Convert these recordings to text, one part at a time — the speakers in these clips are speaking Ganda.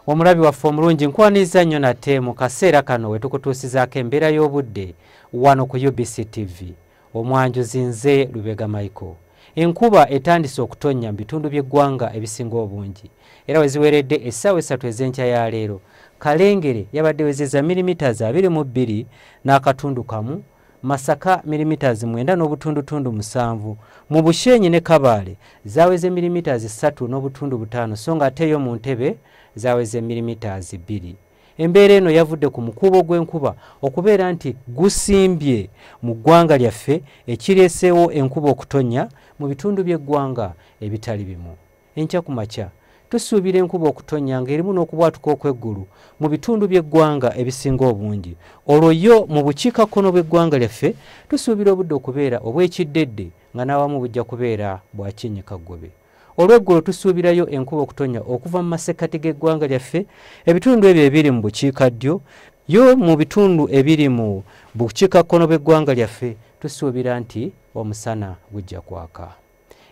omulabi waffe omulungi nkwaniriza nnyo nate mu kaseera kano we tukutuusizaako embeera y'obudde wano ku ubc tv omwanjuzi nze lubega michael enkuba etandise okutonnya mu bitundu by'eggwanga ebisinga obungi era we ziweredde essaawa essatu ez'enkya ya leero kalengere yabadde wezeza milimita za 22 n'akatundu kamu Masaka milimiters mwenda n'obutundutundu musanvu mu Bushenyi ne Kabaale zaweze milimiters ssatu n'obutundu butaano so nga ate yo mu Ntebe zaweze milimiters bbiri. Embeera eno yavudde ku mukuubo gw'enkuba okubeera nti gusimbye mu ggwanga lyaffe ekireeseewo enkuba okutonnya mu bitundu by'eggwanga ebitali bimu. Enkya ku makya tusuubira enkuba okutonnya ng'erimu n'okubwatuka okw'eggulu mu bitundu by'eggwanga ebisinga obungi olwo yo mu bukiikakkono bw'eggwanga lyaffe tusuubira obudde okubeera obw'ekiddedde nga n'awamu bujja kubeera bwa kyennyikaggobe olw'eggulo tusuubirayo enkuba okutonnya okuva mu masekkati g'eggwanga lyaffe ebitundu ebyo ebiri mu bukiika ddyo yo mu bitundu ebiri mu bukiikakkono bw'eggwanga lyaffe tusuubira nti omusana gujja kwaka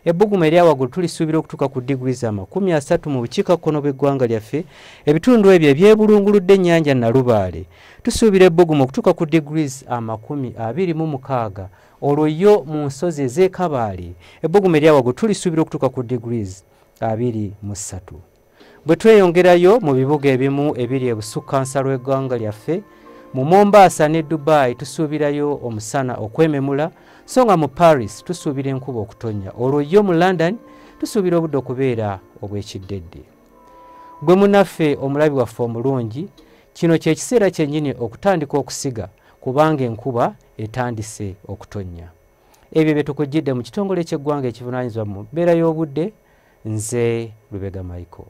ebbugumu eryawaggulu tulisuubira okutuuka ku diguli za makumi asatu mu bukiikakkono bw'eggwanga lyaffe ebitundu ebyo ebyebulunguludde ennyanja nalubaale tusuubira ebbugumu okutuuka ku diguli amakumi abiri mu mukaaga olwo yo mu nsozi ez'ekabaale ebbugumu eryawaggulu tulisuubira okutuuka ku diguli abiri mu ssatu bwe tweyongerayo mu bibuga ebimu ebiri ebusukkansa lw'eggwanga lyaffe mu mombaasa ne dubai tusuubirayo omusana okwememula so nga mu paris tusuubira enkuba okutonnya olwo yo mu london tusuubira obudde okubeera obw'ekiddedde gwe munaffe omulabi waffe omulungi kino kye kiseera kyennyini okutandika okusiga kubanga enkuba etandise okutonnya ebyo bye tukujjidde mu kitongole ky'eggwanga ekivunaanyizibwa mu mbeera y'obudde nze lubega michael